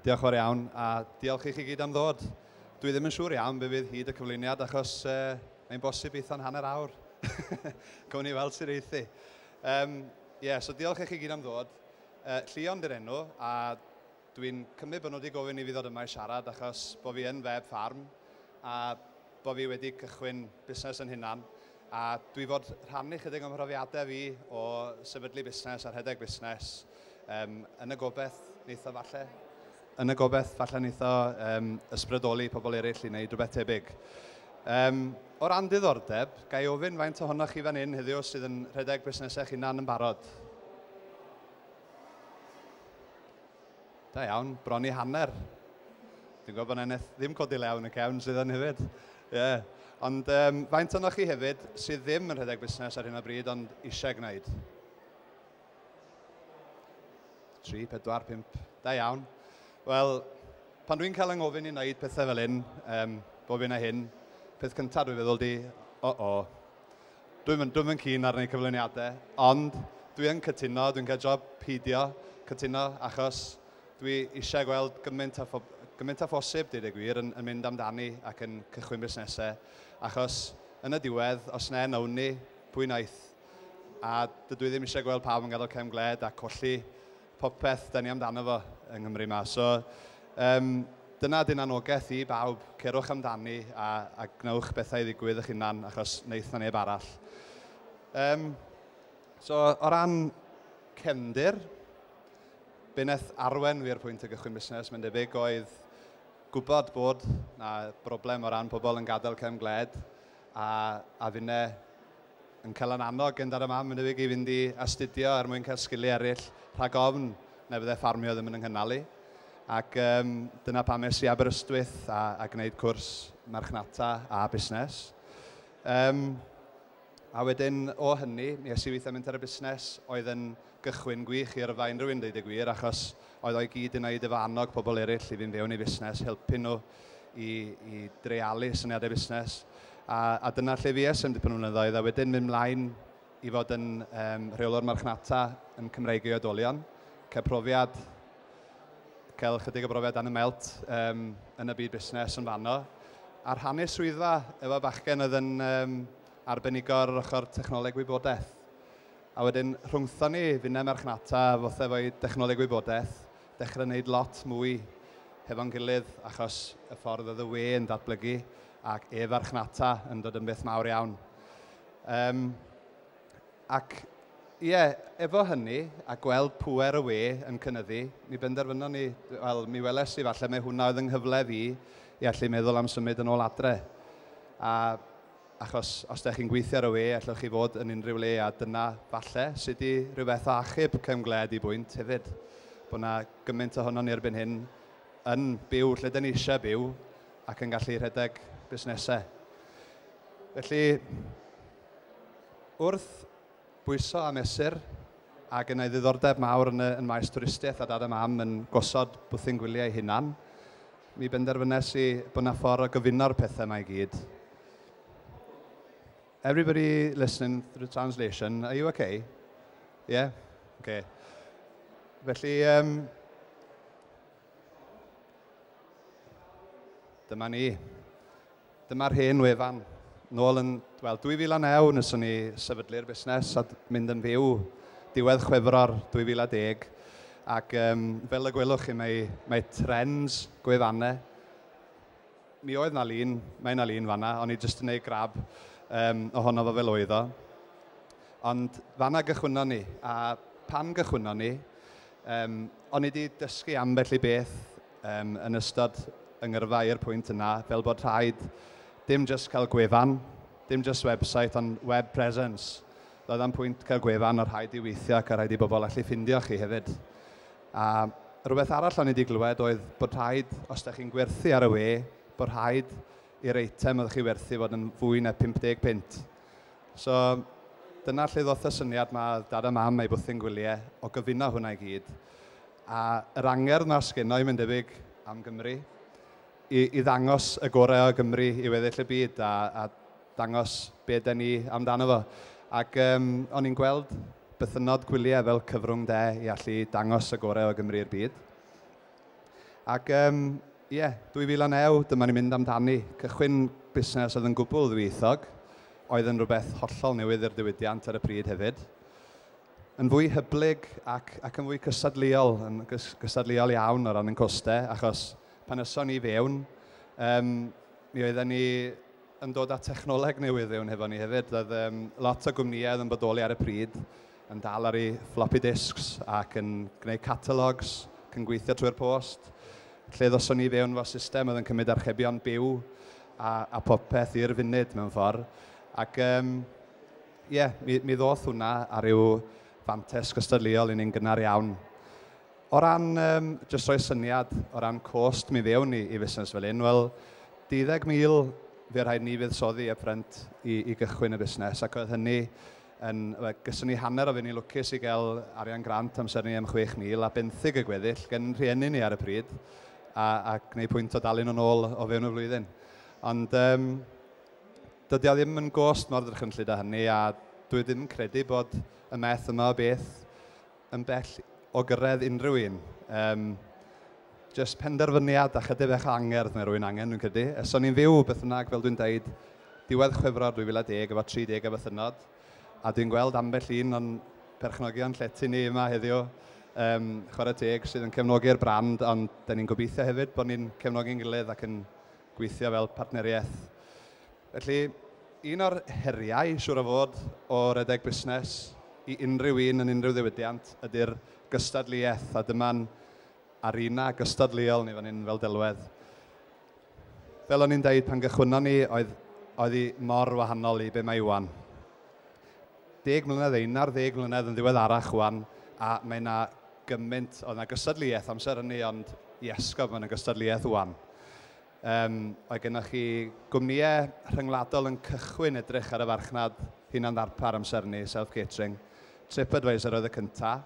Diolch fawr iawn, a diolch i chi gyd am ddod. Dwi ddim yn siŵr iawn be fydd hyd y cyflwyniad, achos uh, mae'n bosib eitha'n hanner awr. Gwni ni weld sy'n reithi. Um, yeah, so diolch i chi gyd am ddod. Uh, Llion dy'r enw, a Dwi'n cymryd bod nhw wedi gofyn i fi ddod yma i siarad achos bod fi yn fab ffarm a bod fi wedi cychwyn busnes yn hunan a dwi fod rhannu chydig o'm mhrofiadau fi o sefydlu busnes a rhedeg busnes um, yn y gobeith neitho falle yn y gobeith falle neitho um, ysbrydoli pobl eraill i wneud rhywbeth tebyg. Um, o ran diddordeb, ga i ofyn faint ohonoch chi fan hyn heddiw sydd yn rhedeg busnesau chi'n hunan yn barod? Da iawn, bron i hanner. Dwi'n gwybod bod yna neth ddim codi lew yn y cefn sydd yn hefyd. Ie. Yeah. Ond um, faint o'n chi hefyd sydd ddim yn rhedeg busnes ar hyn o bryd ond eisiau gwneud? 3, 4, 5. Da iawn. Wel, pan dwi'n cael yng ngofyn i wneud pethau fel hyn, um, bob un a hyn, peth cyntaf dwi'n feddwl di, o-o, Dwi'm yn, dwi'm yn keen ar wneud cyflwyniadau, ond dwi yn cytuno, dwi'n cael job peidio cytuno, achos dwi eisiau gweld gymaint â phob- gymaint â phosib, deud y gwir, yn yn mynd amdani ac yn cychwyn busnesau, achos yn y diwedd, os na un o ni, pwy wnaeth? A dydw i ddim eisiau gweld pawb yn gadael cefn gwled a colli popeth 'da ni amdano fo yng Nghymru 'ma. So, yym, dyna 'di'n annogaeth i bawb, cerwch amdani a a gwnewch bethau ddigwydd eich hunan achos wneith 'na neb arall. Yym, so, o ran cefndir, be wnaeth arwain fi i'r pwynt o gychwyn busnes, mae'n debyg, oedd gwybod bod 'na broblem o ran pobl yn gadael cefn gwled. A, a finne yn cael yn annog gyndar y mam yn unig i fynd i astudio er mwyn cael sgiliau eraill, rhag ofn na fydde ffarmio ddim yn yng nghynnal i. Ac um, dyna pam es i Aberystwyth a, a gwneud cwrs marchnata a busnes. Um, a wedyn o hynny, mi es i weithio mentor y busnes oedd yn Gychwyn gwych i yrfa unrhyw un deud y gwir achos oedd o i gyd yna i dy fo annog pobl eraill i fynd fewn i fusnes, helpu nhw i, i dreialu syniadau busnes a, a dyna lle fues am dipyn o flynyddoedd a wedyn mynd mlaen i fod yn um, rheolwr marchnata yn Cymreig ei oedolion. Cael profiad, cael chydig o brofiad dan y melt um, yn y byd busnes yn fanno a rhannu swyddfa efo bachgen oedd yn um, arbenigo ar yr ochr technoleg wybodaeth. A wedyn rhwngthon ni, finne marchnata, fothe efo'i dechnoleg wybodaeth, dechrau wneud lot mwy hefo'n gilydd achos y ffordd oedd y we yn datblygu ac e-farchnata yn dod yn beth mawr iawn. Um, ac ie, yeah, efo hynny, a gweld pwer y we yn cynnyddu, mi benderfynon ni, wel, mi weles i falle mae hwnna oedd yng nghyfle fi i allu meddwl am symud yn ôl adre. A Achos os dych chi'n gweithio ar y we allwch chi fod yn unrhyw le a dyna, falle, sut i rywbeth o achub cefn-gwled i bwynt hefyd. Bod 'na gymaint ohonon ni erbyn hyn yn byw lle 'da ni eisiau byw ac yn gallu rhedeg busnesau. Felly, wrth bwyso a mesur, a gen i ddiddordeb mawr yn y yn maes twristiaeth a dad a mam yn gosod bwthyn gwyliau eu hunan, Mi benderfynes i bod 'na ffordd o gyfuno'r pethau 'ma i gyd. Everybody listening through translation, are you okay? Yeah? Okay. Felly, um, dyma ni. Dyma'r hen wefan. Nôl yn, wel, 2009 nes o'n i sefydlu'r busnes a mynd yn fyw diwedd chwefror 2010. Ac um, fel y gwelwch chi, mae, mae trends gwefannau. Mi oedd na lun, mae na lun fanna, o'n i jyst yn ei grab um, ohono fo fel oedd o. Ond fanna gychwynnon ni, a pan gychwynnon ni, um, o'n i wedi dysgu ambell i beth Yn yn ystod y ngyrfaoi'r pwynt yna, fel bod rhaid dim jyst cael gwefan, dim jyst website ond web presence. Doedd am pwynt cael gwefan o rhaid i weithio ac o rhaid i bobl allu ffindio chi hefyd. A rhywbeth arall o'n i wedi glywed oedd bod rhaid, os da chi'n gwerthu ar y we, bod rhaid i'r eitem oedd chi werthu fod yn fwy na 50 punt. So dyna lle ddoth y syniad mae dad a mam ei bwthyn gwyliau o gyfuno hwnna i gyd. A yr angerdd 'na sgennai, mae'n debyg, am Gymru, i i ddangos y gorau o Gymru i weddill y byd a a dangos be yda ni amdano fo. Ac yym o'n i'n gweld bythynnod gwyliau fel cyfrwng de i allu dangos y gorau o Gymru i'r byd. Ac yym ie, 2009, dyma ni'n mynd amdani. Cychwyn busnes oedd yn gwbl ddwyieithog, oedd yn rhywbeth hollol newydd i'r diwydiant ar y pryd hefyd. yn fwy hyblyg ac, ac yn fwy cystadleuol, yn gys, gystadleuol iawn o ran yn costau, achos pan yson ni fewn, um, mi oedden ni yn dod â technoleg newydd fewn hefo ni hefyd. Oedd um, lot o gwmnïau oedd yn bodoli ar y pryd yn dal ar ei floppy disks ac yn gwneud catalogs, yn gweithio trwy'r post. Lle ddoson ni fewn fo system oedd yn cymryd archebion byw a, a popeth i'r funud mewn ffordd. Ac um, Ie, mi, mi ddoth hwnna ar ryw fantes gystadleuol i ni'n gynnar iawn. O ran, um, jyst roi syniad, o ran cost mi fewn i, i fusnes fel un, wel, 12,000 fe rhaid ni fuddsoddi y ffrynt i, i gychwyn y busnes, ac oedd hynny yn, gysyn ni hanner o fe, ni lwcus i gael arian grant amser ni am 6,000 a benthyg y gweddill gen rhieni ni ar y pryd, a, a gwneud pwynt o dalu nhw'n ôl o fewn y flwyddyn. Ond, um, Dydy o ddim yn gost mor drychinllyd â hynny a dwi ddim yn credu bod y math yma o beth yn bell o gyrraedd unrhyw un. Yym, jyst penderfyniad a chydig bach o angerdd mae rwy'n angen, dwi'n credu. Os o'n i'n fyw, beth bynnag, fel dwi'n dweud, diwedd Chwefror 2010 efo 30 o fythynnod, a dwi'n gweld ambell un o'n perchnogion llety ni yma heddiw, yym, chwarae teg, sydd yn cefnogi'r brand, ond 'da ni'n gobeithio hefyd bod ni'n cefnogi'n gilydd ac yn gweithio fel partneriaeth. Felly, un o'r heriau, siŵr o fod, o redeg busnes, i unrhyw un yn unrhyw ddiwydiant, ydy'r gystadleuaeth, a dyma'n arena gystadleuol ni fan hyn fel delwedd. Fel o'n i'n dweud pan gychwynnon ni, oedd oedd hi mor wahanol i be mae Iwan. Deg mlynedd ein ar ddeg mlynedd yn ddiweddarach wan, a mae yna gymaint, oedd 'na gystadleuaeth amser hynny ond i esgob mae 'na gystadleuaeth ŵan. Um, oedd gennych chi gwmnïau rhyngwladol yn cychwyn edrych ar y farchnad hunan ddarpar amser hynny, self-catering. TripAdvisor oedd y cyntaf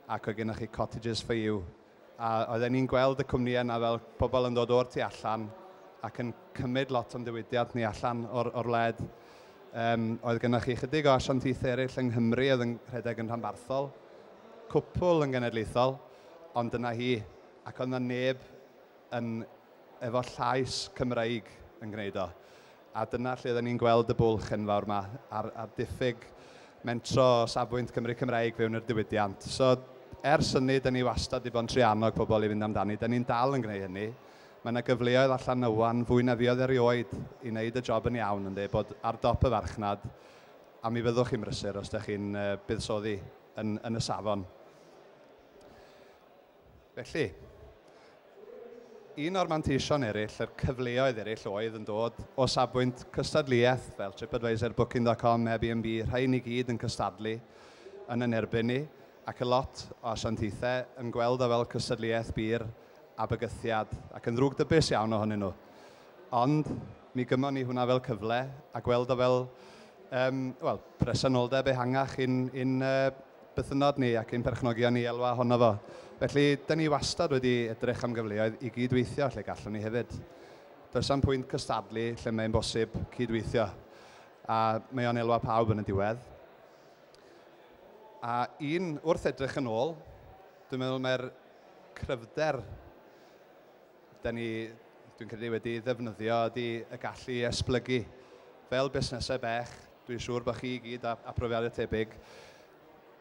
ac oedd gennych chi Cottages for You. A oedden ni'n gweld y cwmnïau yna fel pobl yn dod o'r tu allan ac yn cymryd lot o'n diwydiant ni allan o'r, or wled. Um, oedd gennych chi chydig o asiantaethau eraill yng Nghymru oedd yn rhedeg yn rhanbarthol cwpl yn genedlaethol, ond dyna hi, ac oedd 'na neb yn efo llais Cymreig yn gwneud o, a dyna lle oedden ni'n gweld y bwlch enfawr 'ma a'r a'r diffyg mentro o safbwynt Cymry Cymreig fewn i'r diwydiant. So ers hynny 'da ni wastad 'di bod yn trio annog pobl i fynd amdani, 'da ni'n dal yn gwneud hynny. Mae 'na gyfleoedd allan 'na 'wan fwy na fuodd erioed i wneud y job yn iawn ynde, bod ar dop y farchnad, a mi fyddwch chi'n brysur os 'da chi'n yy buddsoddi. yn, yn y safon. Felly, un o'r manteision eraill, yr cyfleoedd eraill oedd yn dod o safbwynt cystadleuaeth fel TripAdvisor, Booking.com, Airbnb, rhai ni gyd yn cystadlu yn yn erbyn ni ac y lot o asiantaethau yn gweld o fel cystadleuaeth byr a bygythiad, ac yn ddrwg dybus iawn ohonyn nhw. Ond mi gymon ni hwnna fel cyfle a gweld o fel um, well, presenoldeb ehangach i'n in, uh, bythynnod ni ac i'n perchnogion ni elwa ohono fo. Felly, dyn ni wastad wedi edrych am gyfleoedd i gydweithio lle gallwn ni hefyd. Does am pwynt cystadlu lle mae'n bosib cydweithio, a mae o'n elwa pawb yn y diwedd. A un, wrth edrych yn ôl, dwi'n meddwl mae'r cryfder dan ni, dwi'n credu, wedi ei ddefnyddio ydy y gallu i esblygu. Fel busnesau bech, dwi'n siŵr bod chi i gyd â, â profiadau tebyg.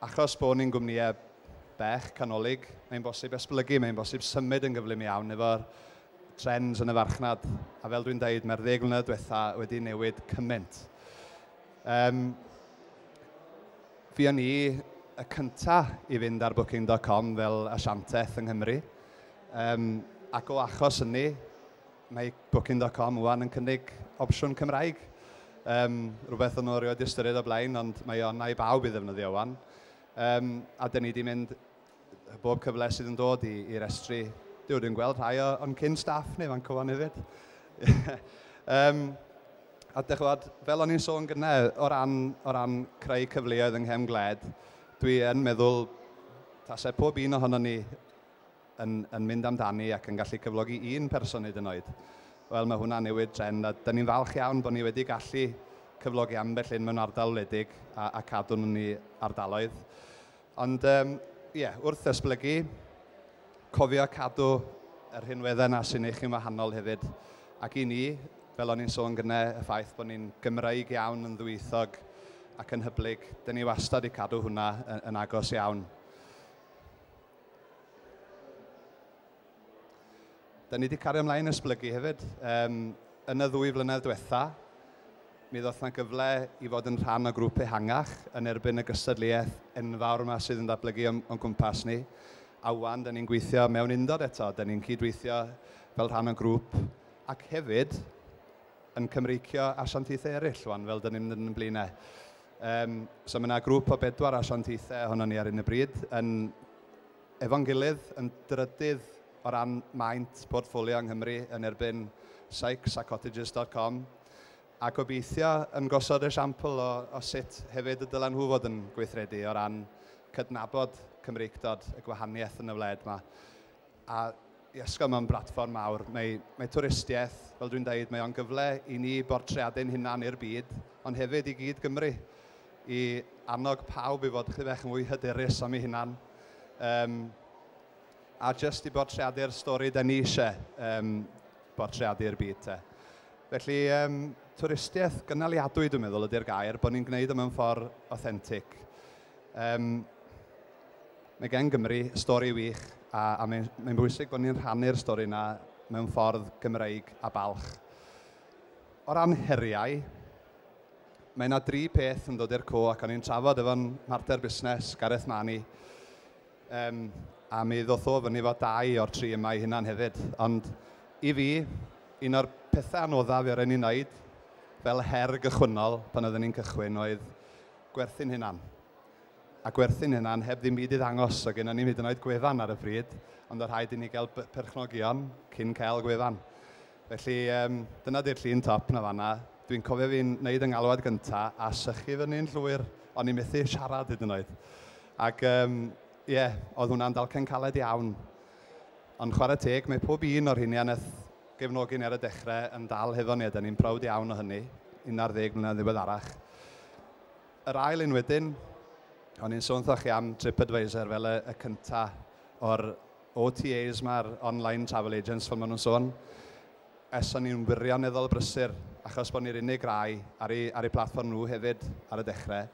Achos bod ni'n gwmnïau bech, canolig, mae'n bosib esblygu, mae'n bosib symud yn gyflym iawn efo'r trends yn y farchnad. A fel dwi'n dweud, mae'r ddeg mlynedd diwetha wedi newid cymaint. Um, Fuon ni y cynta i fynd ar Booking dot com fel asianteth yng Nghymru, yym ac o achos hynny mae Booking dot com ŵan yn cynnig opsiwn Cymraeg. Yym rhywbeth o'n nhw erioed 'di ystyried o'r blaen ond mae o yna i bawb i ddefnyddio ŵan. Yym a 'dyn ni 'di mynd bob cyfle sydd yn dod i i'r estri. Dwi wedi gweld rhai o o'n cyn staff ni fan cyfan hefyd. um, a dychwad, fel o'n i'n sôn gyna, o ran, o ran creu cyfleoedd yng nghefn gwled, dwi yn meddwl tasau pob un ohono ni yn, yn mynd amdani ac yn gallu cyflogi un person hyd yn oed. Wel, mae hwnna'n newid trend a dyn ni'n falch iawn bod ni wedi gallu cyflogi ambell un mewn ardal wledig a, a cadw nhw'n ni ardaloedd. Ond yym ie, wrth esblygu, cofio cadw y rhinweddau 'na sy'n eich chi'n wahanol hefyd. Ac i ni, fel o'n i'n sôn gyne, y ffaith bod ni'n Gymreig iawn, yn ddwyieithog ac yn hyblyg, dan ni wastad wedi cadw hwnna yn agos iawn. Da ni wedi cario ymlaen esblygu hefyd. Um, yn y ddwy flynedd diwetha, mi ddoth yna gyfle i fod yn rhan o grŵp ehangach yn erbyn y gystadleuaeth enfawr yma sydd yn ddatblygu o'n, on gwmpas ni. A wan, da ni'n gweithio mewn undod eto, da ni'n cydweithio fel rhan o grŵp ac hefyd yn Cymreicio asiantaethau eraill, wan, fel dyn ni'n mynd yn blaenau. Um, so mae yna grŵp o bedwar asiantaethau ohono ni ar un y bryd yn efo'n gilydd yn drydydd o ran maint portffolio yng Nghymru yn erbyn Sykes a Cottages dot com, a gobeithio yn gosod esiampl o o sut hefyd y dylen nhw fod yn gweithredu o ran cydnabod Cymreictod, y gwahaniaeth yn y wled 'ma, a I ysgol mewn blatfform mawr. Mae, mae twristiaeth, fel dwi'n dweud, mae o'n gyfle i ni bortreadu ein hunan i'r byd, ond hefyd i gyd Gymru, i annog pawb i fod chydig bach yn fwy hyderus am eu hunan, um, a jyst i bortreadu'r stori da ni eisiau um, bortreadu i'r byd te. Felly, um, twristiaeth gynaliadwy dwi'n meddwl ydy'r gair, bod ni'n gwneud o mewn ffordd authentic. Um, Mae gan Gymru stori wych a a mae mae'n bwysig bod ni'n rhannu'r stori yna mewn ffordd Gymreig a balch. O ran heriau, mae yna dri peth yn dod i'r co ac o'n i'n trafod efo'n mhartner busnes, Gareth Mani, um, a mi ddoth o fyny fo dau o'r tri yma i hunan hefyd. Ond i fi, un o'r pethau anoddaf i rhaid ni wneud fel her gychwynnol pan oeddwn ni'n cychwyn oedd gwerthu'n hunan. a gwerthu'n hunan heb ddim byd i ddangos, so gynnon ni'm hyd yn oed gwefan ar y pryd, ond o' rhaid i ni gael b- perchnogion cyn cael gwefan. Felly um, dyna di'r llun top na fanna. Dwi'n cofio fi'n neud yng ngalwad gynta a sychu fyny'n llwyr, o'n i methu siarad hyd yn oed. Ac um, ie, yeah, oedd hwnna'n dalcen caled iawn. Ond chwarae teg, mae pob un o'r hynny aneth gefnogi ni ar y dechrau yn dal hefo ni, a da ni'n prawd iawn o hynny, 11 mlynedd ddiweddarach. Yr ail un wedyn, o'n i'n sôn wrthoch chi am TripAdvisor fel y, y cynta o'r OTAs mae'r online travel agents fel maen nhw'n sôn. Es o'n i'n wirioneddol brysur, achos bod ni'r unig rai ar ei, ar ei platfform nhw hefyd ar y dechrau,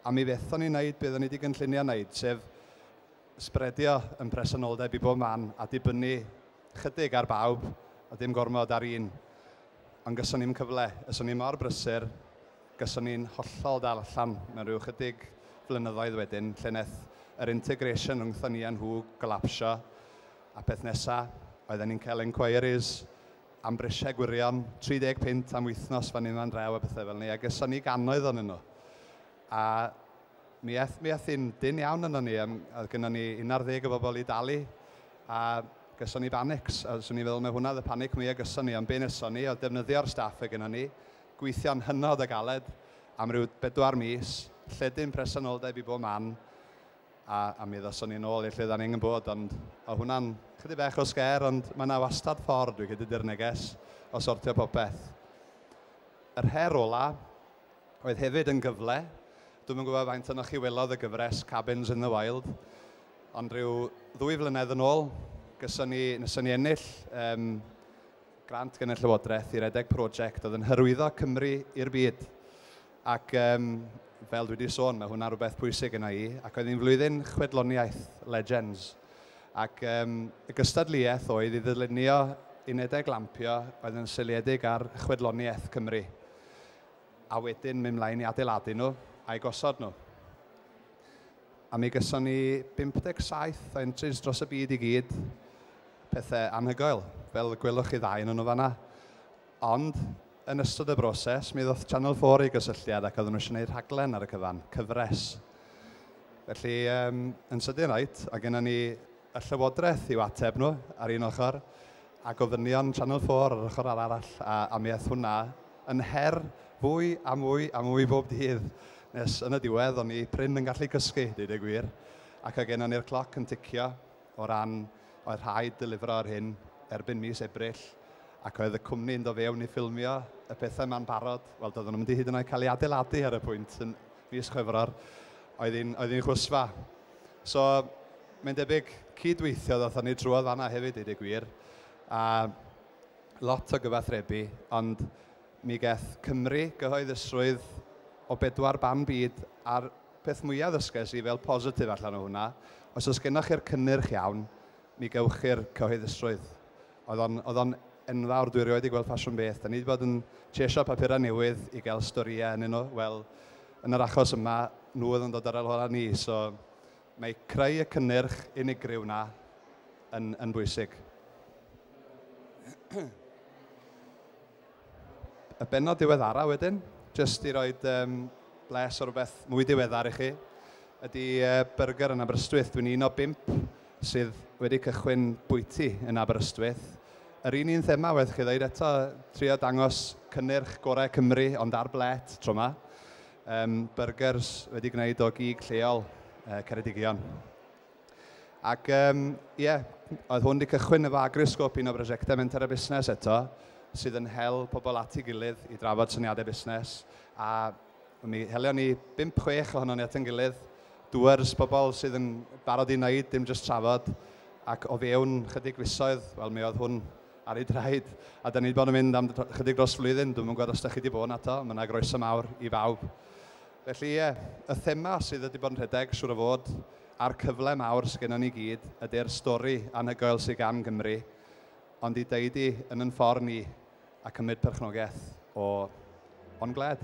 a mi fethon ni wneud beth o'n ni wedi gynllunio wneud, sef sbredio yn presenoldeb i bob man a dibynnu chydig ar bawb a dim gormod ar un. Ond gyson ni'm cyfle, es o'n i mor brysur, Gawson ni'n hollol dal allan mewn rhyw ychydig flynyddoedd wedyn lle wnaeth yr integration rhwngthon ni a nhw golapsio a peth nesa oedden ni'n cael enquiries am brisiau gwirion, 30 punt am wythnos fan hyn fan draw a pethau fel 'ny a geson ni gannoedd ohonyn nhw a mi aeth mi aeth hi'n dynn iawn ynon ni yym oedd gynnon ni un ar ddeg o bobl i dalu a geson ni banics a 'swn i'n meddwl mai hwnna oedd y panic mwya gyson ni ond be neson ni oedd defnyddio'r staff oedd gynnon ni Gweithio'n hynod o galed am ryw bedwar mis, lledu'n presenoldeb i bob man, a, a mi ddawson ni nôl i lle dan ni angen bod, ond o' hwnna'n chydig bach o sgêr, ond mae yna wastad ffordd, dwi'n credu, di'r neges, o sortio popeth. Yr her ola' oedd hefyd yn gyfle, dwi'm yn gwybod faint ohonoch chi welodd y gyfres Cabins in the Wild, ond ryw ddwy flynedd yn ôl, gyson ni, nathon ni ennill yym Grant gan y Llywodraeth i redeg prosiect oedd yn hyrwyddo Cymru i'r byd. Ac um, fel dwi wedi sôn, mae hwnna rhywbeth pwysig yna i, ac oedd hi'n flwyddyn chwedloniaeth Legends. Ac um, y gystadleuaeth oedd i ddylunio unedau lampio oedd yn seiliedig ar chwedloniaeth Cymru, a wedyn mynd mlaen i adeiladu nhw a'i gosod nhw. A mi gyson ni 57 o entries dros y byd i gyd. Pethe anhygoel, fel y gwelwch chi ddau yn nhw fanna. Ond, yn ystod y broses, mi ddoth Channel 4 i gysylltiad ac oedden nhw eisiau gwneud rhaglen ar y cyfan, cyfres. Felly, yn sydyn reit, oedd genna ni y Llywodraeth i'w ateb nhw ar un ochr, a gofynion Channel 4 ar yr ochr arall, a a mi aeth hwnna yn her fwy a mwy a mwy bob dydd, nes yn y diwedd o'n i prin yn gallu cysgu, deud y gwir, ac oedd gennon ni'r cloc yn ticio o ran oedd rhaid delifro yr hyn erbyn mis Ebrill, ac oedd y cwmni yn dod fewn i ffilmio y pethau yma'n barod, wel doedden nhw'm 'di hyd yn oed cael eu adeiladu ar y pwynt yn mis Chwefror, oedd hi'n oedd hi'n chwsfa. So, mae'n debyg cyd-weithiodd wrthon ni drwodd fanna hefyd, deud y gwir, a lot o gyfathrebu, ond mi gaeth Cymru gyhoeddusrwydd o bedwar ban byd, a'r peth mwya' ddysges i fel positif allan o hwnna, os oes gennoch chi'r cynnyrch iawn, mi gewch chi'r cyhoeddusrwydd. Oedd o'n, oedd o'n enfawr, dwi erioed 'di gweld ffasiwn beth. Da ni 'di bod yn chesio papurau newydd i gael storïau ynnyn nhw. Wel, yn yr achos yma, nhw oedd yn dod ar ôl hola ni. So, mae creu y cynnyrch unigryw 'na yn, yn bwysig. y bennod diweddara wedyn, jyst i roed um, bles o rhywbeth mwy diweddar i chi, ydy uh, byrgyr yn Aberystwyth. Dwi'n un o bimp sydd wedi cychwyn bwyty yn Aberystwyth. Yr un un thema, wedi'ch chi ddeud eto, trio dangos cynnyrch gorau Cymru, ond ar blet tro yma. Um, burgers wedi gwneud o gig lleol uh, Ceredigion. Ac um, yeah, oedd hwn wedi cychwyn efo agriosgop un o brosiectau Menter a Busnes eto, sydd yn hel pobl at ei gilydd i drafod syniadau busnes. A mi helio ni 5-6 ohono ni at ein gilydd, dŵers pobl sydd yn barod i wneud, dim jyst trafod. Ac o fewn chydig fisoedd, wel mi oedd hwn ar ei draed. A da ni wedi bod yn mynd am chydig dros flwyddyn, dwi'n mwyn gwybod os da chi wedi bod yn ato, mae yna groeso mawr i bawb. Felly ie, y thema sydd wedi bod yn rhedeg, siŵr o fod, a'r cyfle mawr sy gennon ni i gyd ydy'r stori anhygoel sy gan Gymru, ond i ddeud i, yn yn ffordd ni, a cymryd perchnogaeth o o'n gwled.